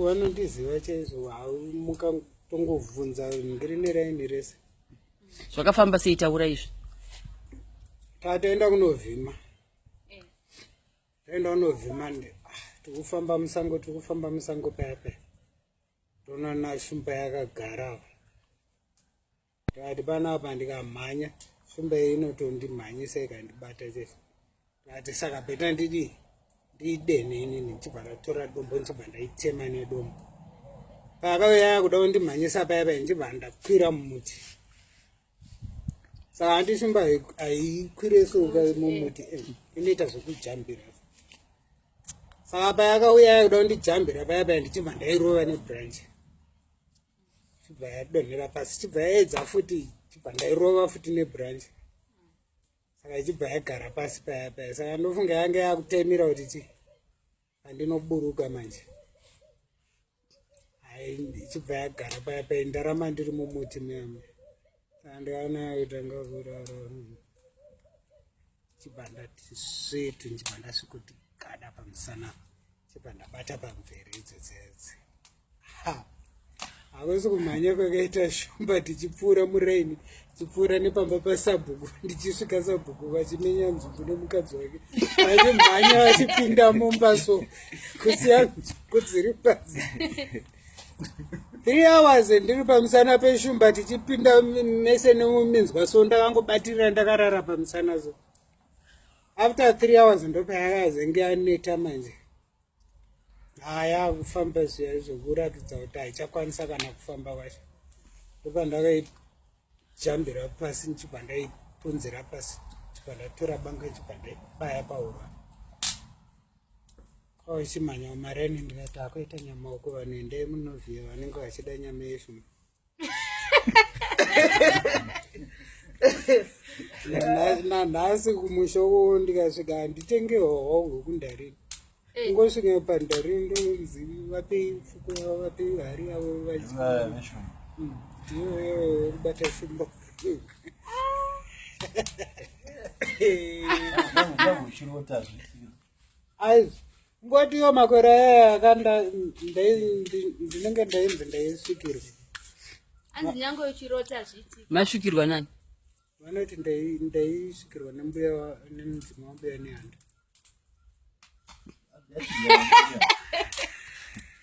vanondiziva chaizvo mukatongovhunza ndiri neraini rese zvakafamba sei taura izvi tataenda kunovhima eh. taenda kunovhima ndi ah, tikufamba musango tikufamba musango paya paya toona nashumba yakagara tikati panapa ndikamhanya shumba iyi inotondimhanyisa ikandibata chese tikati saka beta ndidii ndiidene ini ndichibva ndatora dombo ndichibva ndaitema nedombo paakauya yakuda kundimhanyisa paya paya ndichibva ndakwira mumuti saka handi simba haikwire soka mumuti eh, inoita zvekujambira saka paya akauya yakuda kundijambira paya paya ndichibva ndairova nebranch chibva yadonhera pasi chibva yaedza futi chibva ndairova futi nebranch saka ichibva yagara pasi paya paya saka ndofunga yange yakutemira kuti ti andinoburuka manje hai ichibva yagara paya paya ndarama ndiri mumuti muyamwe hakusi kumhanya kwakaita shumba tichipfuura muraini tichipfuura nepamba pasabhuku ndichisvika sabhuku vachimenya nzungu nemukadzi wake vachimhanya vachipinda mumba so kusiya nzungu dziri pasi three hours ndiri pamusana peshumba tichipinda mese nemuminzwa so ndakangobatirira ndakarara pamusana so after three hours ndopayakazenge aneta manje haya kufamba zviya zvokuratidza kuti haichakwanisa kana kufamba kwacho ndopa ndakaijambira pasi ndichibva ndaipunzira pasi chibva ndatora banga chibva ndaibaya pahura Oisi oh, manya umareni ndinati akuita nyama uko vanhu endei munovhiya vanenge vachida nyama yefu. Nanhasi kumusha uko ndikasvika handitenge hoho hwekundarini. Eh. Ngosvika pandarini ndonzi vape fuko yavo vape hari yavo vachibata hmm, simba. ngotiyo makore aya aka ndinenge ndainzi ndaisvikirwa masvikirwa nani vanoti ndaisvikirwa nembuya nemudzima wambuya nehanda